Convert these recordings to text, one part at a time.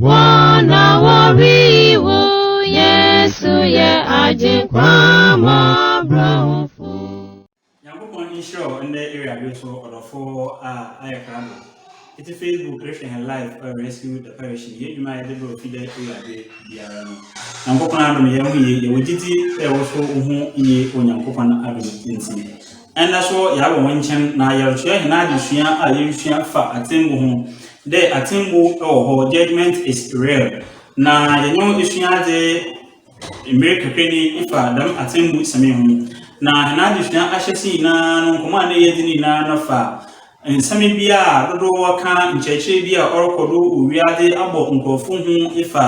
Wɔna wɔwii wo, Yesu yɛ Agyenkwa mmɔborɔhufo. Nyankopɔn nhyira wo ndɛ Ewuradwe so ɔdɔfo a ayɛ krado. Etse Facebook rehwɛ hɛn live ɔyɛ Rescue the Perishing hɛn edwuma a yɛdze brɛ ofi dɛ Ewuradwe biara no. Nyankopɔn adom yɛ ho yie, yɛwɔ gyidzi dɛ wo so wo ho yie wɔ Nyankopɔn adom ntsi. Ndɛ so yɛaba hɔn nkyɛn na yɛrokyerɛ hɛn adzesua a yerusua fa atsɛmbu ho dɛ atsɛmbu wɔ hɔ, judgement is real, na yɛnye wo esua adze mber kakra ni fa dɛm atsɛmbu sɛm yi ho. Na hɛn adzesua ahyɛse nyina no nkɔmbɔ a nna yɛdzi no nyina no fa Nsɛm bi a dodow wɔka nkyerɛkyerɛ bi a ɔrokɔ do wɔ wiadze abɔ nkorɔfo hu efa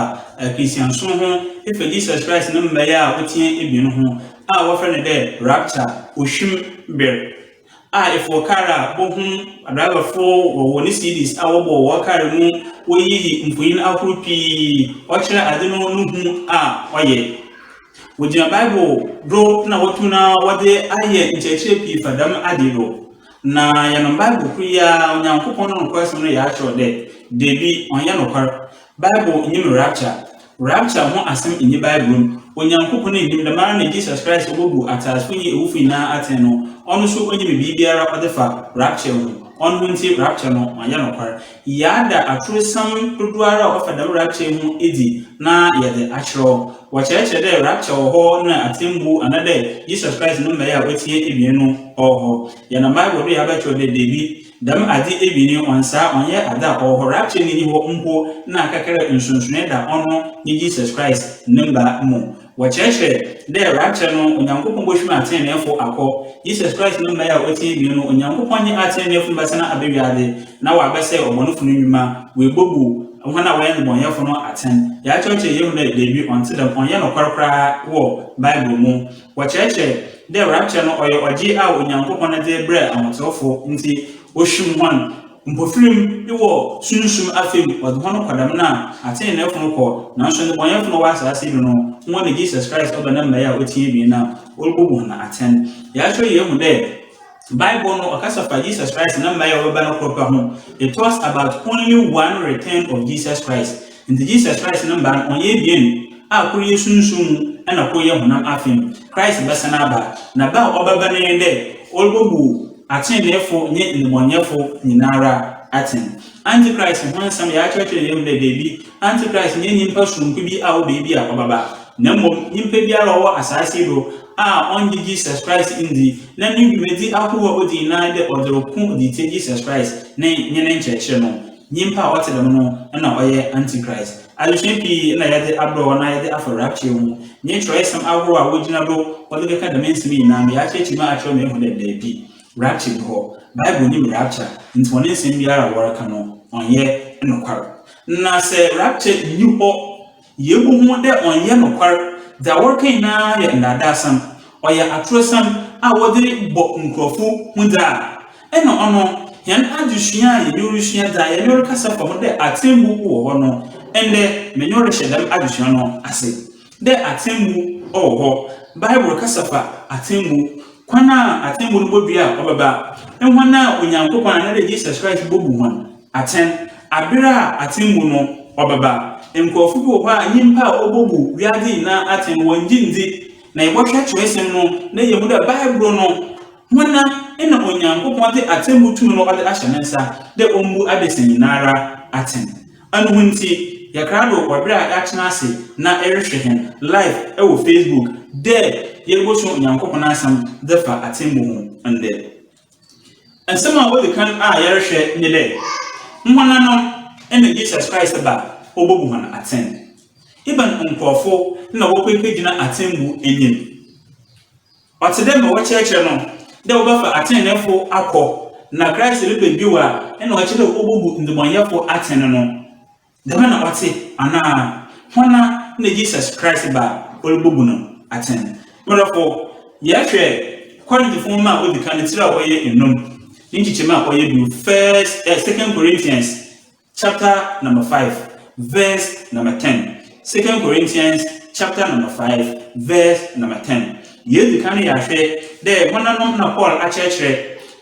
Christiansom ho efa Jesus Christ ne mbae a otsia ebien ho a wɔfrɛ no dɛ rapture, ohwim ber, a efɔw kaar a bohum adrabafo wɔ hɔn CDs a wɔbɔ wɔ kaar mu woyiyi mfonyin ahorow pii ɔkyerɛ adze no no hu a ɔyɛ. Wogyina Bible do na wotum na wɔdze ayɛ nkyerɛkyerɛ pii fa dɛm adze yi do. Na yɛ no Bible kor yi ara Onyankopɔn no nokwasɛm no yɛakyerɛw dɛ, Dabi, ɔnnyɛ nokwar. Bible nnyim rapture. Rapture ho asɛm nnyi Bible mu. Onyankopɔn nnyim, dɛmara na Jesus Christ a obobu atseasefo nye ewufo nyina atsɛn no, ɔno so onnyim biribiara ɔdze fa rapture ho. Ɔno ntsi rapture no ɔnnyɛ nokwar. Yɛada aturesɛm dodoara a ɔfa dɛm rapture yi ho edzi na yɛdze akyerɛw. Wɔkyerɛkyerɛ dɛ rapture wɔ hɔ na atsɛmbu ana dɛ Jesus Christ no mbae a otsia ebien no ɔwɔ hɔ. Yɛnam Bible do yɛabɛkyerɛw dɛ dabi, dɛm adze ebien yi ɔnnsaa, ɔnnyɛ adze a ɔwɔ hɔ, rapture no nnyi hɔ mpo na kakra nsonsonee da ɔno nye Jesus Christ ne mba mu. Wɔkyerɛkyerɛ dɛ rapture no Onyankopɔn bohwim atseneneefo akɔ Jesus Christ no mbae a otsia ebien no, Onyankopɔn nye atseneneefo no bɛsan aba wiadze na wɔabɛsɛɛ ɔbɔnfo no ndwuma, woebobu hɔn a wɔyɛ ndzebɔnyɛfo no atsɛn. Yɛakyerɛkyerɛ yeehu dɛ dabi, ɔnntse dɛm, ɔnnyɛ nokwar koraa wɔ Bible mu. Wɔkyerɛkyerɛ dɛ rapture no ɔyɛ ɔgye a Onyankopɔn dze brɛ ahotseweefo ntsi ohwim hɔn. Mpofirim wɔ sunsum afae mu, wɔdze hɔn kɔ dɛm na atseneneefo no kɔ, naaso ndebɔnyɛfo na ɔwɔ asaase yi do no, hɔn na Jesus Christ ɔdɔ ne mbae a otsia ebien no a Orubobu hɔn atsɛn. Yɛakyerɛ yeehu dɛ Bible no ɔkasa fa Jesus Christ ne mbae a wɔbɛba no kor pɛ ho, It talks about only one return of Jesus Christ. Ntsi Jesus Christ ne mba no wɔnnyɛ ebien, a kor yɛ sunsum mu na kor yɛ honam afe mu. Christ bɛsan aba, na ba a ɔbɛba no nye dɛ Orubobu atseneneefo nye ndebɔnyɛfo nyinara atsɛn. Antichrist ho nsɛm yɛakyerɛkyerɛ hɛn mu dɛ beebi, Antichrist nnyɛ nyimpa soronko bi a ɔwɔ beebi a ɔbɛba, na mbom nyimpa biara a ɔwɔ asaase yi do a ɔnngye Jesus Christ nndzi, na no dwumadzi ahorow a odzi nyinara nye dɛ ɔdze roko dze tsia Jesus Christ ne nye ne nkyerɛkyerɛ no. Nyimpa a ɔtse dɛm no na ɔyɛ Antichrist. Adzesua pii na yɛdze abrɛ hɔn a yɛdze afa rapture ho. Nye kyerɛwsɛm ahorow a wogyina do wɔdze kɛkã dɛm nsɛm yi nyina no, yɛakyerɛkyerɛ mu akyerɛ hɔn ehu dɛ dabi, rapture nnyi hɔ. Bible nnyim rapture, ntsi hɔn nsɛm biara a wɔreka no, ɔnnyɛ nokwar. Na sɛ rapture nnyi hɔ Yebohun dɛ ɔnnyɛ nokwar, dza wɔreka nyina yɛ ndaadaasɛm, ɔyɛ atorosɛm a wɔdze bɔ nkorɔfo hu dze a. Nna ɔno hɛn adzesua a yɛnye wo rusua dze a yɛnye wo rekasa fa ho dɛ atsɛmbu wɔ hɔ no, ndɛ menye wo rehyɛ dɛm adzesua no ase. Dɛ atsɛmbu wɔ hɔ, Bible kasa fa atsɛmbu, kwan a atsɛmbu no bodua a ɔbɛba, hɔn a Onyankopɔn anaadɛ Jesus Christ bobu hɔn, Atsɛn, Aber a atsɛmbu no ɔbɛba, nkorɔfo bi wɔ hɔ a, nyimpa a wobobu wiadze nyina atsɛn no wɔnngye nndzi. Na yɛbɔhwɛ kyerɛwsɛm no na yeehu dɛ Bible no, hɔnna na Onyankopɔn dze atsɛmbu tum no ɔdze ahyɛ ne nsa dɛ ombu adasa nyinara atsɛn. Anoho ntsi, yɛkra do wɔ ber a yɛatsena ase na erohwɛ hɛn live wɔ Facebook dɛ yebosuo Onyankopɔn n'Asɛm dze fa atsɛmbu ho ndɛ. Nsɛm a odzi kan a yɛrohwɛ nye dɛ, woananom na Jesus Christ ba obobu hɔn atsɛn? Ebɛn nkorɔfo na wɔkɔ ekegyina atsɛmbu enyim? Ɔtse dɛ ma wɔkyerɛkyerɛ no dɛ wɔbɛfa atseneneefo akɔ, na Christ reba bio a, nna ɔkyerɛ dɛ obobu ndzebɔnyɛfo atsɛn no. Dɛm na ɔtse, anaa? Hɔnara na Jesus Christ ba a orubobu no atsɛn. Mo dɔfo, yɛhwɛ Korinthfo nwoma a odzi kan no tsir a ɔyɛ enum, ne nkyekyɛmu a ɔyɛ du, First, eh, Second Corinthians chapter number five, verse number ten. Second Corinthians chapter number five, verse number ten. Yedzi kan no yɛahwɛ dɛ hɔnanom na Paul akyerɛkyerɛ,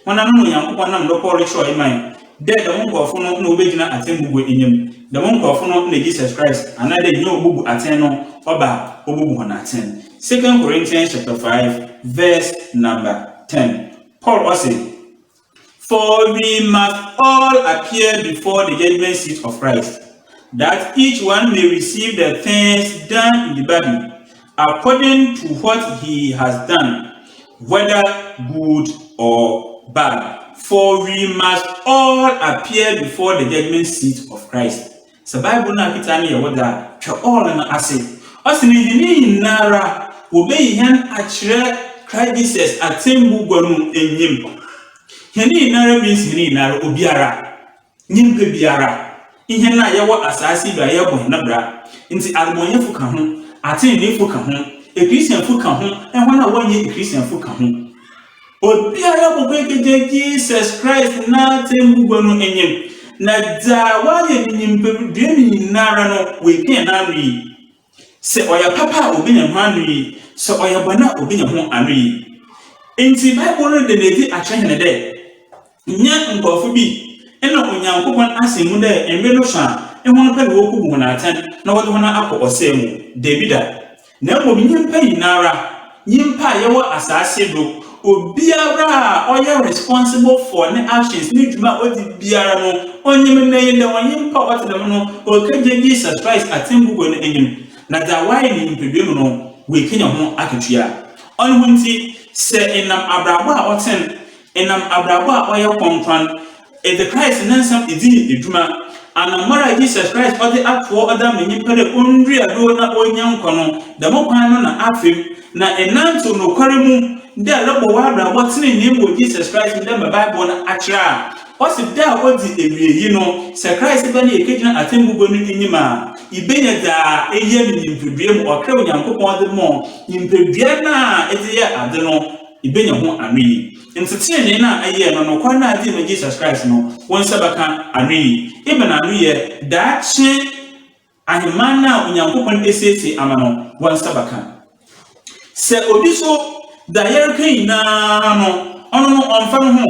hɔnanom na Onyankopɔn nam do kɔr do kyerɛwee mae, Dɛ dɛm nkorɔfo no na wobegyina atsɛmbu bo enyim. Dɛm nkorɔfo no na Jesus Christ, anaadɛ nyia obobu atsɛn no ɔba a, obobu hɔn atsɛn. Second Corinthians chapter five verse number ten, Paul ɔse, For we must all appear before the judgment seat of Christ, that each one may receive the things done in the body, According to what he has done, whether good or bad, for we must all appear before the judgment seat of Christ. Sɛ Bible no aketaa no yɛ wo dɛ a, twa all no ase. Ɔse na hɛn nyinara wobeyi hɛn akyerɛ Christ Jesus atsɛmbu gua no enyim. Hɛn nyinara means hɛn nyinara, obiara. Nyimpa biara, hɛn a yɛwɔ asaase yi do a yɛbɔ hɛn bra ntsi, amumɔyɛfo ka ho, atseneneefo ka ho, Christianfo ka ho, hɔn a wɔnnyɛ Christianfo ka ho, obiara bɔkɔ ekegya Jesus Christ n'atsɛmbugua no enyim, na dza ɔayɛ no nyimpadua mu nyinara no, oepian n'ano yi. Sɛ ɔyɛ papa a obenya ho anoyi, sɛ ɔyɛ bɔn a obenya ho anoyi. Ntsi Bible no da no edzi akyerɛ hɛn dɛ, nnyɛ nkorɔfo bi na Onyankopɔn asen mu dɛ mber no sõ a, hɔn pɛ na wokobu hɔn atsɛn na wɔdze hɔn akɔ ɔsɛɛ mu. Dabida! Na mbom nyimpa nyinara. Nyimpa a yɛwɔ asaase do, obiara a ɔyɛ responsible for ne actions, ne dwuma a odzi biara no, ɔnye me ndɛ yi ndɛ, ɔnye nyimpa a ɔtse dɛm no, oekedzi Jesus Christ atsɛmbu wɔ n'enyim, na dza ɔayɛ no nyimpadua mu no, oekenya ho akatua. Ɔno ntsi, sɛ enam abrabɔ a ɔtsen, enam abrabɔ a ɔyɛ krɔnkrɔn, Edze Christ ne nsɛm dzii dwuma. Anamɔn a Jesus Christ ɔdze atow ɔda ma nyimpa dɛ ondua do na onya nkwa no, dɛm kwan no na afe mu, na enantsew nokwar mu dɛ erobɔ w'abrabɔ tsenenee mu wɔ Jesus Christ mu dɛ mbrɛ Bible no akyerɛ a. Ɔse da a odzi ewiei no, sɛ Christ ba na yekegyina atsɛmbu gua no enyim a, ibenya dza eyɛ no nyimpadua mu, ɔkra a Onyankopɔn dze maa wo, nyimpadua no a edze yɛɛ adze no, ibenya ho anoyi. Ntsi tsenenee no a eyɛɛ no, nokwar no a edze ma Jesus Christ no, wo nsa bɛkã ano yi. Ebɛn ano yɛ? Daakye ahenman no a Onyankopɔn esiesie ama no, wo nsa bɛkã. Sɛ obi so, dza yɛrekã nyina no, ɔno no ɔmmfa noho.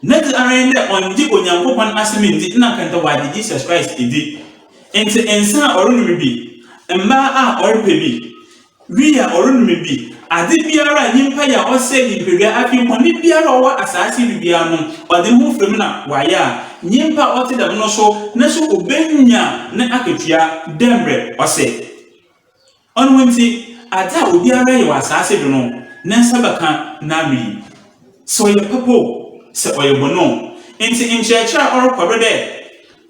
Nedze ara nye dɛ ɔnngye Onyankopɔn Asɛm nndzi, nna anka nkyɛ ɔagye Jesus Christ edzi. Ntsi nsa a ɔronom bi, mbaa a ɔrepɛ bi, Wi a ɔrennome bi, ade biara a nyimpa yɛ a ɔsɛɛ nyimpadua, afei bɔn biara a ɔwɔ asaase do biara no, ɔdze noho fura mu na ɔayɛ a, nyimpa a ɔtse dɛm no so no so obenya ne akatua dɛ mbrɛ ɔsɛ. Ɔno ntsi, adze a obiara yɛ wɔ asaase do no, ne nsa bɛkã n'ano yi. Sɛ ɔyɛ papa o, sɛ ɔyɛ bɔn o. Ntsi nkyerɛkyerɛ a ɔrokɔ do dɛ,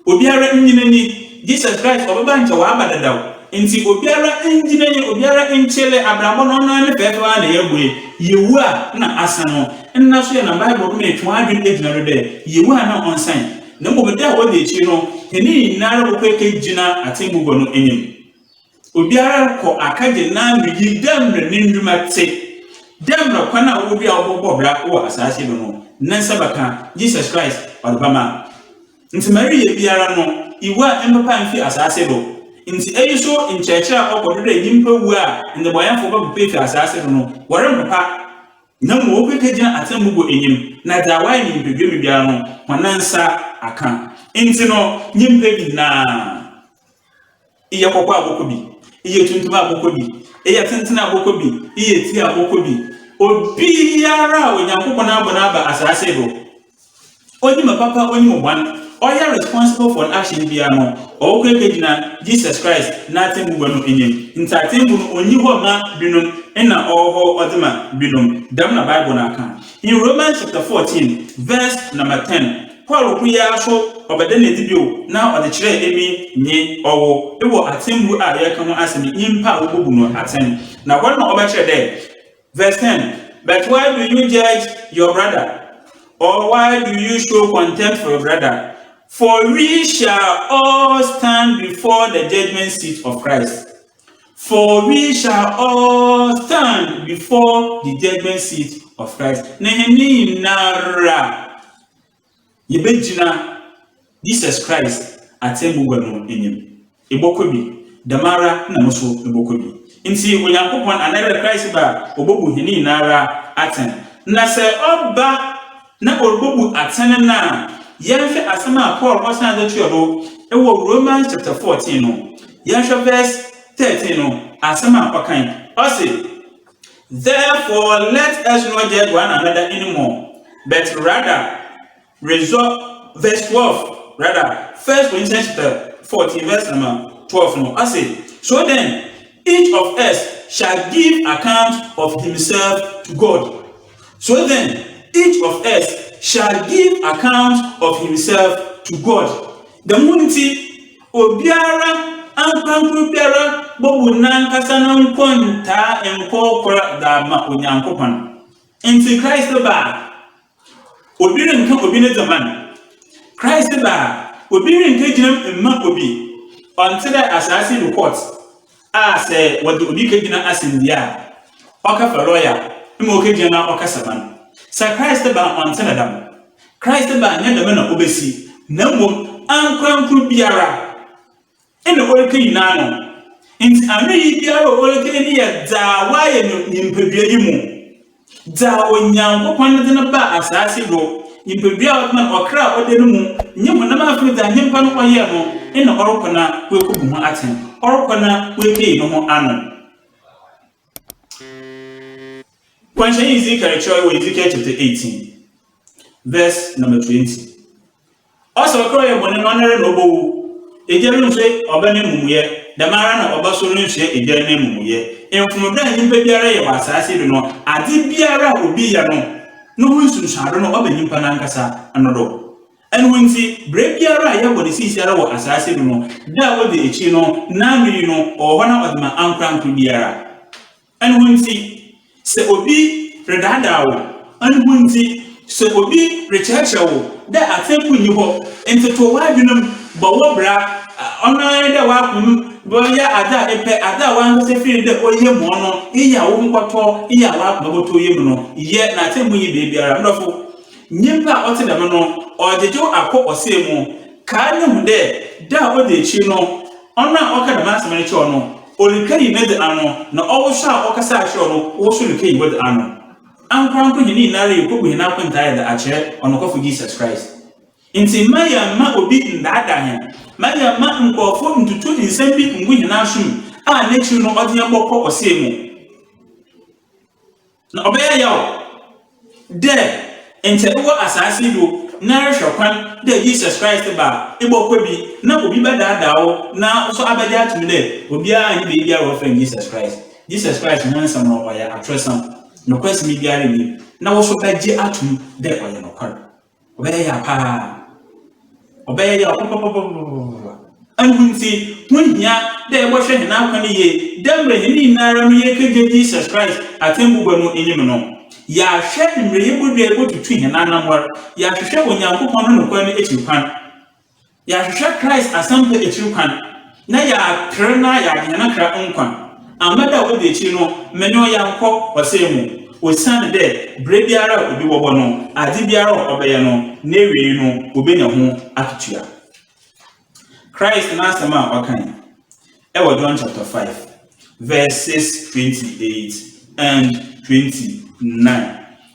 Obiara nnyi n'enyi, Jesus Christ ɔbɛba a nkyɛ ɔaba dada o, ntsi obiara nndzi n'enyi, obiara nkyele abrabɔ no, ɔnoara ne fɛɛfɛw ara na yɛabue, yewu a nna asan o. Nna so yɛ na Bible no ma yɛtwe hɔn adwen gyina do dɛ, yewu a nna ɔnnsan, na mbom da a odzi ekyir no, hɛn nyinara bɔkɔ ekegyina Atsɛmbu Gua no enyim. Obiara rokɔ akɛgye n'anoyi dɛ mbrɛ ne ndwuma tse, dɛ mbrɛ kwan a ɔwɔ biara a ɔbɔbɔ bra wɔ asaase do no, ne nsa bɛkã, Jesus Christ ɔdze bɛma. Ntsi ma ereyɛ biara no, iwu a emmpepa mmfi asaase do. Ntsi eyi so nkyerɛkyerɛ a ɔkɔ do dɛ nyimpa wu a ndzebɔnyɛfo bɔpepa efi asaase do no, wɔremmpepa, na mbom wobekegyina atsɛmbu bo enyim, na dza wɔayɛ no nyimpadua mu biara no, hɔn nsa akã. Ntsi no, nyimpa bi nyina. Eyɛ kɔkɔɔ a bɔkɔ bi, eyɛ tuntum a bɔkɔ bi, eyɛ tenten a bɔkɔ bi, eyɛ tia a bɔkɔ bi, obiara a Onyankopɔn abɔ no aba asaase do, onyim apapa onyim bɔn, ɔyɛ responsible for n'action biara no, ɔwɔkɔ ekegyina Jesus Christ n'atsɛmbugua no enyim. Ntsi atsɛmbu no onnyi hɔ mma binom nna ɔwɔ hɔ ɔdze ma binom, dɛm na Bible no akã in Romans chapter fourteen verse number ten. Paul kɔe ara so ɔbɛda no adi bio na ɔde kyerɛɛ emi nye ɔwo wɔ atsɛmbu a yɛreka ho asɛm yi, nyimpa a wobobu no atsɛn. Na hɔ no na ɔbɛkyerɛ dɛ, Verse ten, But why do you judge your brother? Or why do you show contempt for your brother? For we shall all stand before the judgment seat of Christ. For we shall all stand before the judgment seat of Christ. Na yɛn nyinara yɛbɛgyina Jesus Christ atɛmmugua no anim. Ebɔkɔ bi, dɛm ara na mo so mobɔkɔ bi. Ntsi Onyankopɔn anaa dɛ Christ ba a, obobu hɛn nyinara atsɛn. Na sɛ ɔba na ɔrebobu atsɛn no a, yɛnhwɛ asɛm a Paul ɔsaan dze toa do wɔ Romans chapter fourteen no. Yɛnhwɛ verse thirteen no asɛm a ɔkã yi, ɔse, Therefore let us not judge one another any more, but rather resolve, verse twelve, rather, First Corinthians chapter fourteen verse number twelve no, ɔse, So then each of us shall give account of himself to God. So then each of us shall give account of himself to God. Dɛm ntsi, obiara ankorankor biara bobu nankasa no nkontaa nkorkor dze ama Onyankopɔn. Ntsi Christ ba a, obi rennkã obi ne dze mma no. Christ ba a, obi rennkegyina mu mma obi. Ɔnntse dɛ asaase do court. a sɛ wɔdze obi kegyina asɛndua a, ɔka fa lɔya ma okegyina na ɔkasa ma no. Sɛ Christ ba a, ɔnntse no dɛm. Christ ba a, nnyɛ dɛm na obesi, na mbom ankorankor biara na orikenyin n'ano. Ntsi anoyi biara a orikenyin no yɛ dza ɔayɛ no nyimpadua yi mu. Dza Onyankopɔn dze no baa asaase do, nyimpadua a ɔdze nam ɔkra a ɔda no mu, nye honam a afei dza nyimpa no ɔyɛe no nna ɔrokɔ no a oekobu ho atsɛn, ɔrokɔ no a oekeyi noho ano. Nkɔnhyɛnyi Ezekiel kyerɛwee wɔ Ezekiel chapter eighteen verse number twenty. Ɔsɛ ɔkra ɔyɛ bɔne no ɔno ara na ɔbɔ wu. Egya rennhwɛ ɔba n'emumuyɛ, dɛm ara na ɔba so rennhwɛ egya n'emumuyɛ. Mfom dɛ nyimpa biara yɛ wɔ asaase do no, adze biara a obi yɛ no, no ho nsunsuando no ɔba nyimpa nankasa no do. Ɛno ntsi, ber biara a yɛbɔ no siisiara wɔ asaase do no, da a odzi ekyir no, n'anoyi no, ɔwɔ hɔ na ɔdze ma ankorankor biara. Ɛno ho nti, sɛ obi redaadaa wo, ɛno ho nti, sɛ obi rekyerɛkyerɛ wo dɛ atsɛmbu nnyi hɔ, ntoto w'adwen mu, bɔ wo bra, ɔno ara nye dɛ w'akoma mu bɛyɛ adze a epɛ, adze a w'ankasa fir no dɛ ɔyɛ mu ɔno, iyi a wo nkɔtɔ, iyi a w'akoma bɔtɔ yɛ mu no, yɛ, na atsɛmbu nnyi beebiara. Me dɔfo, nyimpa a ɔtse dɛm no, ɔregyegyew akɔ ɔsɛɛ mu. Kae no hu dɛ, da a odzi ekyir no, Ɔno a ɔka dɛm asɛm no kyerɛ wo no, orikenyi nedze ano, na ɔwo so a ɔkasaa kyerɛ wo no, wo so rekenyi wodze ano. Ankorankor, hɛn nyinara yekobu hɛn akontaa dze akyerɛ ɔnokwafo Jesus Christ. Ntsi mma yɛmma obi ndaadaa hɛn, mma yɛmma nkorɔfo nntutu nsɛm bi nngu hɛn asomu a n'ekyir no ɔdze hɛn bɔkɔ ɔsɛɛ mu. Na ɔbɛyɛ yaw dɛ nkyɛ ewɔ asaase yi do na erehwɛ kwan dɛ Jesus Christ ba a, ebɔkɔ bi na obi bɛdaadaa wo na wo so abɛgye ato mu dɛ obiara nnyi beebiara a wɔfrɛ no Jesus Christ. Jesus Christ ho nsɛm no ɔyɛ atorosɛm, nokwasɛm biara nnyi mu, na wo so bɛgye ato mu dɛ ɔyɛ nokwar. Ɔbɛyɛ ya paa. Ɔbɛyɛ yaw papapapapapapa. Ɛno ntsi, ho hia dɛ yɛbɔhwɛ hɛn akwan yie dɛ mbrɛ hɛn nyinara no yɛrekɛgye Jesus Christ atsɛmbugua no enyim no. Yɛahwɛ mbrɛ yebodua a yebotutu hɛn anamɔr, yɛahwehwɛ Onyankopɔn no nokwar no ekyir kwan, Yɛahwehwɛ Christ asɛmpa ekyir kwan, na yɛaper na yɛagye hɛn akra nkwa. Amma da a odzi ekyir no, menye wo yɛakɔ ɔsɛɛ mu, osiandɛ ber biara a obi bɔbɔ no, adze biara a ɔbɛyɛ no, n'ewiei no, wobenya ho akatua. Christ n'asɛm a ɔkãe wɔ John chapter five verses twenty eight and twenty nine.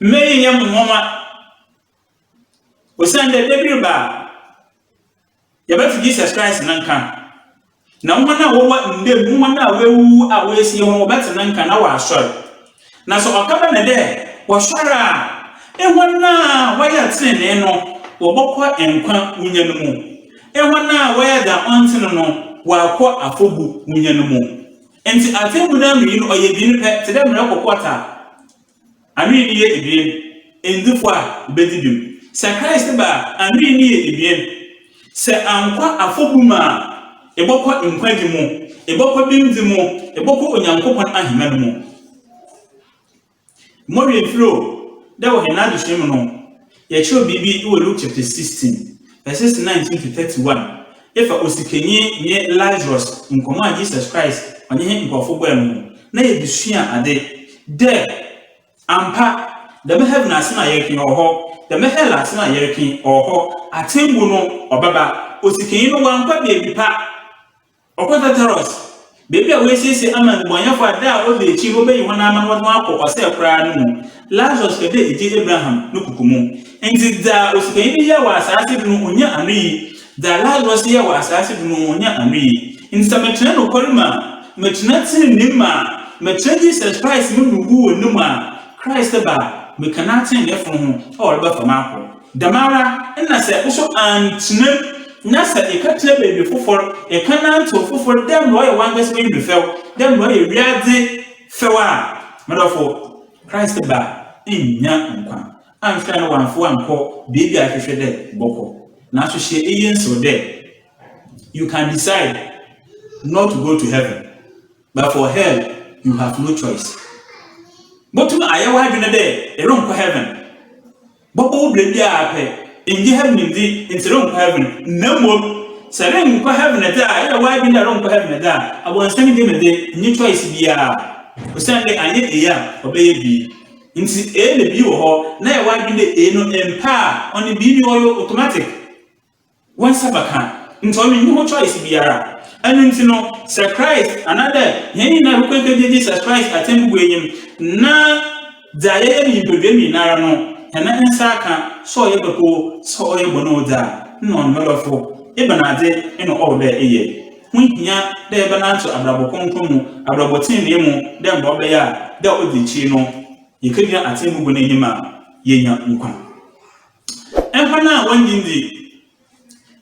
Mma eyi nnyɛ mo nwonwa, osiandɛ da bi reba a yɛbɛto Jesus Christ no nkã, na hɔn a wɔwɔ nda mu, hɔn a woewuwu a woesie hɔn, wɔbɛtse no nkã na wɔaasoɛr. Na sɛ ɔkãba no dɛ wɔsoɛr a, hɔn a wɔyɛ tsenenee no, wɔbɔkɔ nkwa wunya no mu, hɔn a wɔyɛ dza ɔnntse no no, wɔaakɔ afɔbu wunya no mu. Ntsi atsɛmbu no anoyi no ɔyɛ ebien pɛ, tse dɛ mbrɛ kɔkɔɔt a Anwi no yɛ ebien, Ndefua a wobedzi bem. Sɛ Christ ba a, anwi no yɛ ebien, Sɛ annkɔ afɔbu mu a, ebɔkɔ nkwagye mu, ebɔkɔ bemdzi mu, ebɔkɔ Onyankopɔn ahenman mu. Mowee mfir o, dɛ wɔ hɛn adesua mu no, Yɛkyerɛw biribi wɔ Luke chapter sixteen verses nineteen to thirty one efa osikanyi nye Lazarus nkɔmbɔ a Jesus Christ ɔnye Hɛn nkorɔfo bɔe no ho na yɛdze sua adze dɛ, Ampa, dɛm heaven asɛm a yɛreka yi ɔwɔ hɔ, dɛm hɛl asɛm a yɛreka yi ɔwɔ hɔ, atsɛmbu no ɔbɛba, osikanyi no ɔannkɔ beebi pa. Ɔkɔ Tartarus, baabi a woesiesie ama nnebɔnyɛfo a da a odzi ekyir wobeyi hɔn ama na wɔdze hɔn akɔ ɔsɛɛ koraa no mu. Lazarus pɛ dɛ egye Abraham no kuku mu. Ntsi dza osikanyi no yɛɛ wɔ asaase do no onnya anoyi, dza Lazarus yɛɛ wɔ asaase do no onnya anoyi. Ntsi sɛ mekyerɛ nokwar mu a, mekyerɛ tsenenee mu a, mekyerɛ Jesus Christ no mu wu wɔ no mu a, Christ ba a, mekã no atseneneefo no ho a ɔrebɛfa me akɔ. Dɛmara na sɛ wo so anntena mu na sɛ ekã kyerɛ beebi fofor, ekã nantsew fofor dɛ mbrɛ ɔyɛ wankasa w'enyim do fɛw, dɛ mbrɛ ɔyɛ wiadze fɛw a, me dɔfo, Christ ba nnya nkwa annhwɛ a na ɔammfa wo annkɔ beebi a ehwehwɛ dɛ ebɔkɔ. Naaso hyɛ iyi nsew dɛ, You can decide not to go to heaven, but for hell you have no choice. Botum ayɛ w'adwen dɛ eronnkɔ heaven. Bɔbɔ wo berɛ biara pɛ, nngye heaven nndi nti renkɔ heaven, na mmom sɛ renkɔ heaven dze a eyɛ w'adwen dɛ ronkɔ heaven dze a, abɔnsam nnyi me dze, nnyi choice biara, osiandɛ annyɛ eyi a ɔbɛyɛ B ntsi, A na B wɔ hɔ, na yɛ w'adwen dɛ A no mmpɛ a ɔno B no ɔyɛ automatic. Wo nsa bɛkã, ntsi ɔno nnyi ho choice biara. Eno ntsi no, sɛ Christ, anaadɛ hɛn nyina yɛbɔkɔ ekɛgye Jesus Christ atsɛmbu wɔ enyim, na dza yɛyɛ no nyimpadua mu nyinara no, hɛn nsa akã, sɛ ɔyɛ papa o, sɛ ɔyɛ bɔn o dze a, nna ɔno mɛdɔfo. Ebɛnadze na ɔwɔ dɛ eyɛ? Ho hia dɛ yɛbɛnantsew abrabɔ krɔnkrɔn mu, abrabɔ tsenenee mu, dɛ mbrɛ ɔbɛyɛ a dɛ odzi ekyir no, yekegyina atsɛmbu bɔ no enyim a, yeenya nkwa. Mpa no a wɔnngye nndzi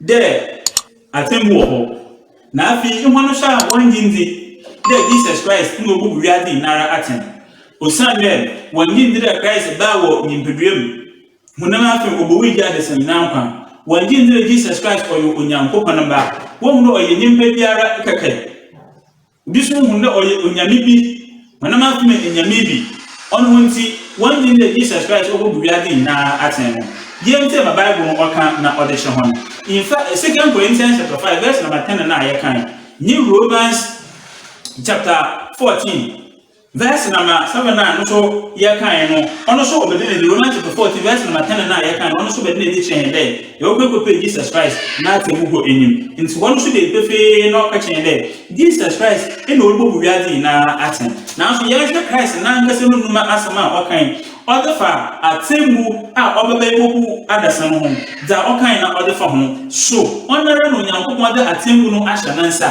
dɛ atsɛmbu wɔ hɔ, na afei hɔn so a wɔnngye nndzi dɛ Jesus Christ na obu wiadze nyinara atsɛn. Osiandɛ wɔnngye nndzi dɛ Christ baa wɔ nyimpadua mu, honam na afei obowui gyee adasa nyina nkwa, wɔnngye nndzi dɛ Jesus Christ ɔyɛ Onyankopɔn Ba, wohu dɛ ɔyɛ nyimpa biara kɛkɛ. Bi so hun dɛ ɔyɛ onyame bi, hɔnam akoma enyame bi. Ɔno ho ntsi, wɔnndwen dɛ Jesus Christ obobu wiadze nyina atsɛn no. Yie ntsie ma Bible no ɔkã na ɔdze kyerɛ hɔn. Nfa Second Corinthians chapter five verse number ten no a yɛkãe, nye Romans chapter fourteen, Verse number seven a no so yɛkae no, ɔno so ɔbɛde n'ani, Romans chapter fourteen verse number ten no a yɛkae no, ɔno so ɔbɛde n'ani kyerɛ yɛn dɛ, yɛwɔkɔ ekɔpɛ Jesus Christ n'atsɛmbu kɔ enyim. Ntsi hɔ no so dee pefee na ɔkã kyerɛ hɛn dɛ, Jesus Christ nna orubobu wiadze nyina atsɛn. Naaso yɛnhwɛ Christ nankasa no ndwuma asɛm a ɔkãe ɔdze fa atsɛmbu a ɔbɛba ebobu adasa no ho, dza ɔkãe na ɔdze fa ho, So ɔnoara na Onyankopɔn dze atsɛmbu no ahyɛ ne nsa?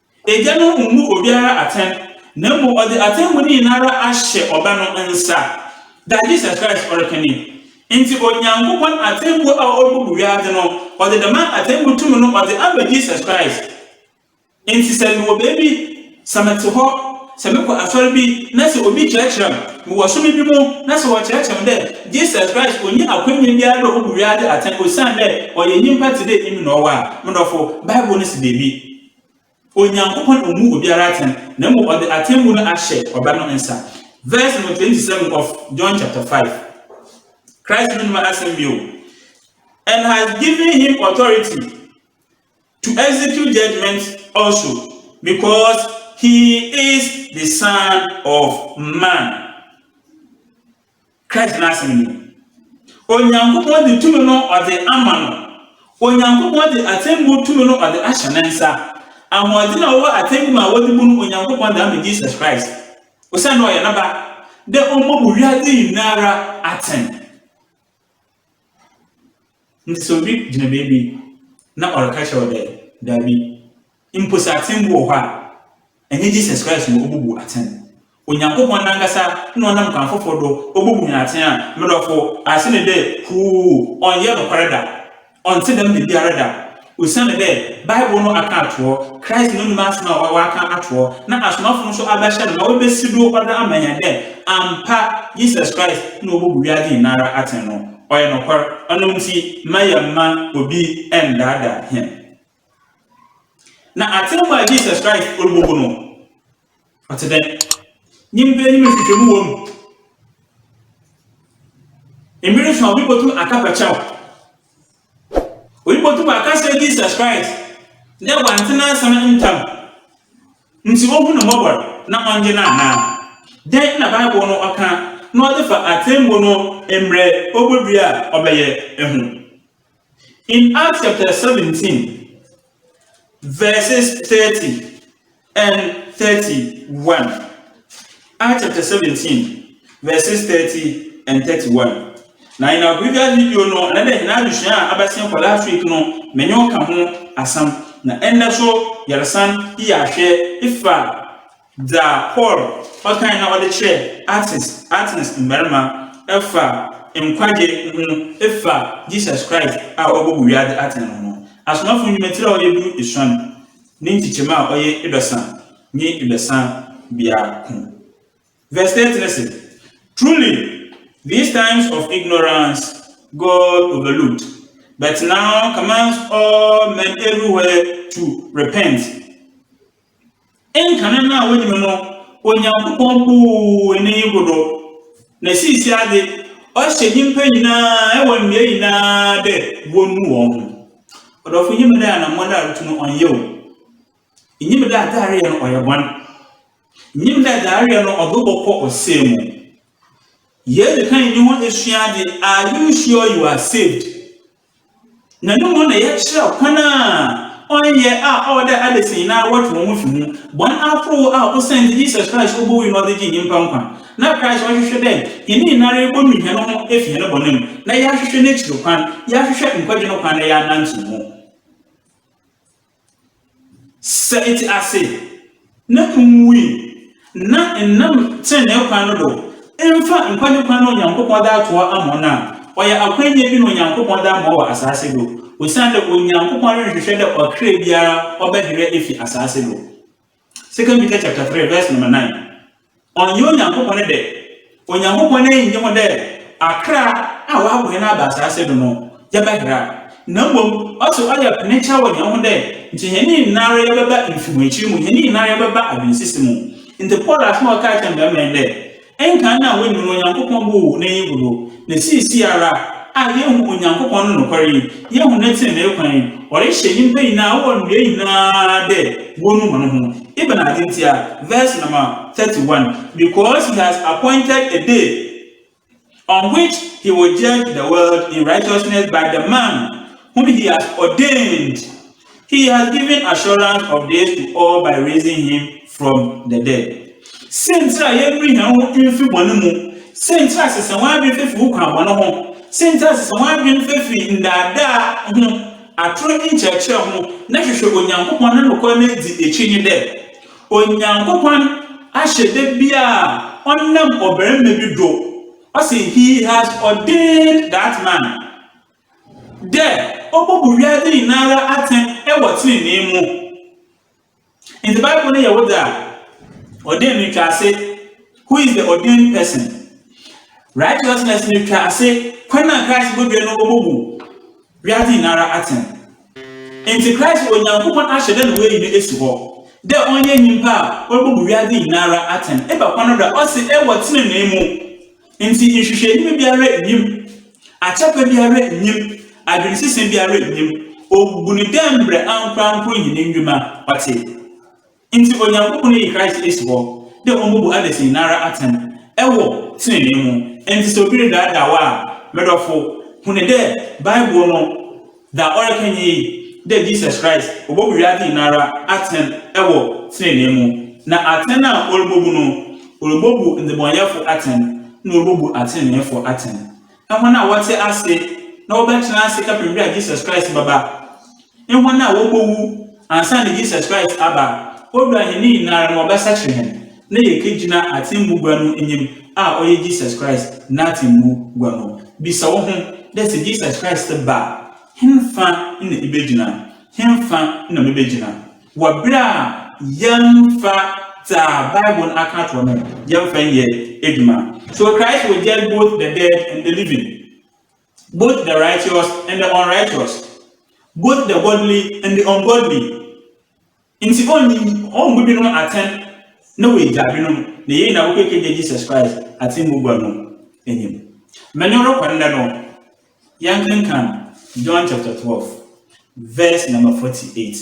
Agya no mmu obiara atɛn, na mmom ɔdze atemmu no nyinara ahyɛ Ɔba no nsa, dza Jesus Christ ɔrekã nye yi. Ntsi Onyankopɔn atsɛmbu a orubobu wiadze no, ɔdze dɛm atsɛmbu tum no ɔdze ama Jesus Christ. Ntsi sɛ mowɔ beebi, sɛ metse hɔ, sɛ mokɔ asɔr bi na sɛ obi kyerɛkyerɛ me, mowɔ som bi mu na sɛ wɔkyerɛkyerɛ me dɛ Jesus Christ onnyi akwanya biara dɛ obobu wiadze atsɛn osiandɛ ɔyɛ nyimpa tse dɛ emi na ɔwo a, mo dɔfo, Bible no si beebi, Onyankopɔn mmu obiara atɛn, na mmom ɔde atemmu no ahyɛ Ɔba no nsa. Verse no 27 of John chapter 5. Christ no nnum asɛm bio. And has given him authority to execute judgment also, because he is the Son of Man. Christ n'asɛm ni, Onyankopɔn de tumi no ɔde ama no, Onyankopɔn de atemmu tumi no ɔde ahyɛ ne nsa, ahoɔden a ɔwɔ atemmu a wɔde bu no Onyankopɔn de ama Jesus Christ, osiandɛ ɔyɛ ne ba, dɛ ɔmbobu wiadze nyinara atsɛn. Ntsi sɛ obi gyina beebi na ɔreka kyerɛ wo dɛ, Dabi, mpo sɛ atsɛn bi wɔ hɔ a, nnyɛ Jesus Christ na obobu atsɛn. Onyankopɔn nankasa na ɔnam kwan fofor do obobu hɛn atsɛn a, me dɔfo, ase no dɛ, huu, ɔnnyɛ nokwar da. Ɔnntse dɛm dabiara da. Osian dɛ Bible no akã atohɔ, Christ no nomu asɛm a ɔakã atohɔ, na asomafo no so abɛhyɛ no ma oebesi do ɔda ama hɛn dɛ ampa Jesus Christ na obobu wiadze nyinara atsɛn no, ɔyɛ nokwar. Ɔno ntsi, mma yɛmma obi nndaadaa hɛn. Na atsɛmbu a Jesus Christ orubobu no, Ɔtse dɛn? Nyimpa enyim nhwehwɛmu wɔ mu. Mber so a obi botum aka pɛkyɛ wo. Obi botum aka akyerɛ Jesus Christ dɛ Ɔanntse n'asɛm ntsɛm ntsi Ohu no mbɔbɔr na Ɔnngye no anaa? Dɛn na Bible no ɔkã na ɔdze fa atsɛmbu no mbrɛ obodua a ɔbɛyɛ ho? In Acts chapter 17 verses 30 and 31. Acts chapter 17 verses 30 and 31. Na in our previous video no, ɛnɛ dɛ hena adesua a abɛsen kɔ last week no, menye wo ka ho asɛm. Na ɛnnɛ so yɛresan yɛ ahwɛ efa Dza Paul ɔkãe na ɔdze kyerɛɛ Athens Athens mbarimba fa nkwagye ho fa Jesus Christ a ɔbɔbɔ wiadze atsɛn no ho no, Asomafo Ndwuma tsir a ɔyɛ du esuon ne nkyekyɛmu a ɔyɛ eduasa nye eduasa biako vɛs thirty no se, Truly, these times of ignorance God overlooked, but now commands all men everywhere to repent. Nkan no a wonyim no, Onyankopɔn buu ne yi bodo, na siisiadze ɔhyɛ nyimpa nyina wɔ mbea nyina dɛ wonu hɔnho. Ɔdɔfo, inyim dɛ anamɔn a erotu no ɔnnyɛ wo, inyim dɛ adze a ereyɛ no ɔyɛ bɔn, inyim dɛ dza ereyɛ no ɔdze wo bɔkɔ ɔsɛɛ mu. Yedzi kan nye ho esua adze, Are you sure you are saved? na no mu na yɛkyerɛw kwan a ɔnnyɛ a ɔwɔ dɛ adasa nyinara wɔtwe hɔn ho fi ho, bɔn ahorow a osiandɛ Jesus Christ obowui na ɔdze gyee nyimpa nkwa. Na Christ ɔhwehwɛ dɛ hɛn nyinara yebonu hɛnho efi hɛn bɔn mu, na yaahwehwɛ n'ekyir kwan, yaahwehwɛ nkwagye no kwan na yaanantsew mu. Sɛ etse ase na nnwui na nnam tsenenee kwan no do mmfa nkwagye kwan a Onyankopɔn dze ato hɔ ama wo no a, ɔyɛ akwanya bi na Onyankopɔn dze ama wo wɔ asaase do, osiandɛ Onyankopɔn ronnhwehwɛ dɛ ɔkra biara ɔbɛhera efi asaase do. 2 Peter chapter 3 verse number 9. Ɔnnyɛ Onyankopɔn ne dɛ. Onyankopɔn n'enyi nnyi ho dɛ akra a wɔabɔ hɛn aba asaase do no yɛbɛhera, na mbom ɔse ɔyɛ penekya wɔ hɛnho dɛ nkyɛ hɛn nyinara yɛbɛba mfehoekyir mu, hɛn nyinara yɛbɛba adwensese mu. Ntsi Paul asɛm a ɔkaa kyerɛɛ mbarimba nye dɛ, Nka nna a woenyim Onyankopɔn bo wɔ hɔn enyi gu do, na siisiara a yehu Onyankopɔn no nokwar yi, yehu ne tsenenee kwan yi, ɔrehyɛ nyimpa nyina a wɔwɔ mbrɛ nyina dɛ wonu hɔnho. Ebɛnadze ntsi a? Verse number thirty one, Because he has appointed a day. On which he will judge the world in righteousness by the man whom he has ordained, he has given assurance of this to all by raising him from the dead. Siantsir a yɛnwe hɛnho mfi bɔn mu, siantsir a sesa w'adwen fa fi wo kwan bɔn ho, siantsir a sesa w'adwen fa fi ndaadaa ho, ator nkyerɛkyerɛ ho, na hwehwɛ Onyankopɔn no nokwar n'edzi ekyir nye dɛ, Onyankopɔn ahyɛdɛ bi a ɔnam ɔbarima bi do, ɔse he has ordained that man, dɛ obobu wiadze nyinara atsɛn wɔ tsenenee mu. Ntsi Bible no yɛ wo dze a, ordained no twa ase who is the ordained person. Righteousness no twa ase kwan a Christ bodua no obobu Wiadze nyinara atsɛn ntsi Christ wɔ Nyankopɔn ahyɛ dɛ na oeyi no esi hɔ dɛ ɔnyɛ nyimpa a orubobu wiadze nyinara atsɛn eba kwan do a ɔse ewɔ tsenenee mu. Ntsi nhwehwɛenyiwa biara nnyim, akyɛpa biara nnyim, adwensesa biara nnyim, obu no dɛ mbrɛ ankorankor hɛn ndwuma ɔtse. Ntsi Onyankopɔn eyi Christ esi hɔ dɛ ombobu adasa nyinara atsɛn wɔ tsenenee mu. Ntsi sɛ obi redaadaa wo a, me dɔfo, hu no dɛ Bible no dza ɔrekã nye yi, dɛ Jesus Christ obobu wiadze nyinara atsɛn wɔ tsenenee mu, na atsɛn a Orubobu no, Orubobu ndzebɔnyɛfo atsɛn na Orubobu atseneneefo atsɛn. Hɔn a wɔtse ase na wɔbɛtsena ase kɛpem ber a Jesus Christ bɛba nye hɔn a wobowu ansaana Jesus Christ aba a Owura hɛn nyinara ma Ɔbɛsakyer hɛn na yekegyina atsɛmbu gua no enyim a ɔyɛ Jesus Christ N'atsɛmbu gua no. Bisa woho dɛ, 'Sɛ Jesus Christ ba a, henfa na ibegyina? Henfa na mebegyina? Wɔ ber a yɛmmfa dza Bible no akã ato hɔ no yɛmmfa nyɛ edwuma. So Christ will judge both the dead and the living. Both the righteous and the unrighteous, both the godly and the ungodly. Nti ɔnyi ɔmmu binom atɛn na oegyaa binom, na yei na wokekegya Jesus Christ atsɛmbu gua no enyim. Menye wo rokɔ ndɛ no, yɛnkenkan John chapter twelve, Verse number forty eight,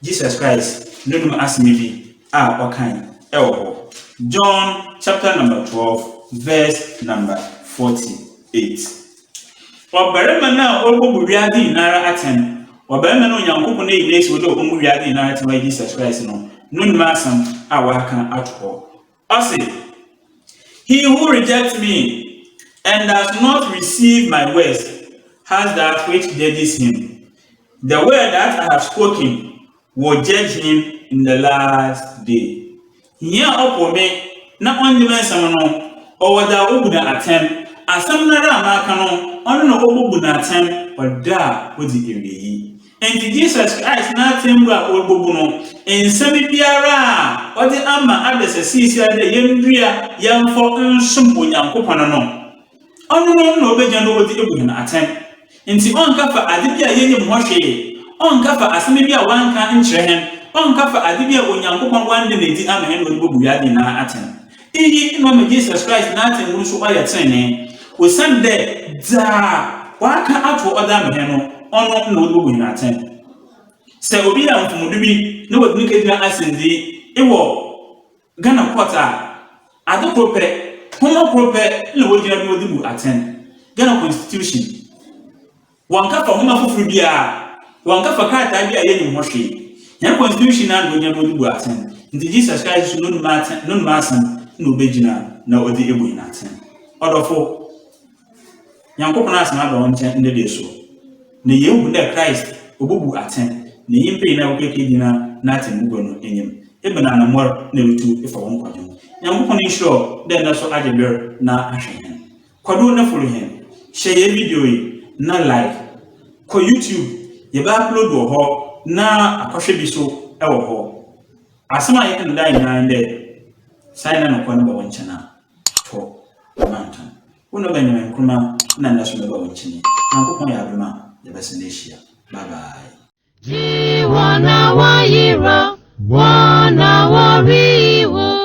Jesus Christ Nonom asɛm bi a ɔkae wɔ hɔ. John chapter number twelve verse number forty eight. Ɔbarima no a ɔrebɔbɔ wiadze nyinara atsɛn, ɔbarima no a Onyankopɔn eyi no edzi wɔ dɛ ɔbɔbɔ wiadze nyinara atsɛn ɔyɛ Jesus Christ no, Nonom asɛm a ɔakã ato hɔ. Ɔse, He who rejects me and does not receive my words has that which judges him, the word that I have spoken will judge him in the last day. Hia a ɔpo me na ɔnnye me nsɛm no, ɔwɔ dza wobu no atsɛn, asɛm noara a maka no, ɔno na wobobu no atsɛn wɔ da a odzi ewiei. Enti Jesus Christ n'atsɛmbu a oebubu no, nsɛm biara a ɔdze ama adasa siesia dɛ yendua yɛmfɔ nsom Onyankopɔn no, ɔno no na obegyina do dze ebu hɛn atsɛn. Ntsi ɔnnkɛfa adze bi a yennyim ho hwee, ɔnnkɛfa asɛm bi a ɔannka nnkyerɛ hɛn, ɔnnkɛfa adze bi a Onyankopɔn ɔannda no edzi ama hɛn na ɔdze bobu wiadze nyina atsɛn. Iyi mma ma Jesus Christ n'atsɛmbu no so ɔyɛ tsenenee, osiandɛ dza Ɔakã ato hɔ dze ama hɛn no, ɔno na wɔdze bobu hɛn atsɛn. Sɛ obi yɛ mfomdo bi na wɔdze no kegyina asɛndzii wɔ Ghana court a, adze kor pɛ, hom kor pɛ na wogyina do wɔdze bu atsɛn, Ghana Constitution. Wɔanka fa nwoma fofor biara, wɔanka fa krataa bi a yenyim ho hwee. Hɛn constitution no anomuonyam no bu atsɛn, ntsi Jesus Christ so no numa atsɛn, no numa asɛm na obegyina na ɔdze ebu hɛn atsɛn. Ɔdɔfo, Nyankopɔn asɛm aba wo nkyɛn ndɛ dee so, na yeehu dɛ Christ obobu atsɛn na nyimpa nyina a wɔkɔ ekegyina n'atsɛmbugua no enyim. Ebɛn anamɔr na erutu efa wo nkõdzen? Nyankopɔn nhyira wo dɛ ndɛ so agye ber na ahwɛ hɛn. Kwadu ne folo hɛn. Hyɛ yɛn video yi na like. Kɔ YouTube, yɛbɛ upload wɔ hɔ na akɔhwɛ bi so wɔ hɔ. Asɛm a yɛka no daa nyinaa nye dɛ, Saa yɛ na nokwar no ba wo nkyɛn a, tɔ na ma ntɔn. Wo na ɔbɛn dɛm Nkrumah na ndɛ so mɛba wo nkyɛn yi. Nyankopɔn yɛ adom a, yɛbɛsan ehyia. Bye bye. Gye wɔn a wɔyera, wɔn a wɔreyi wo.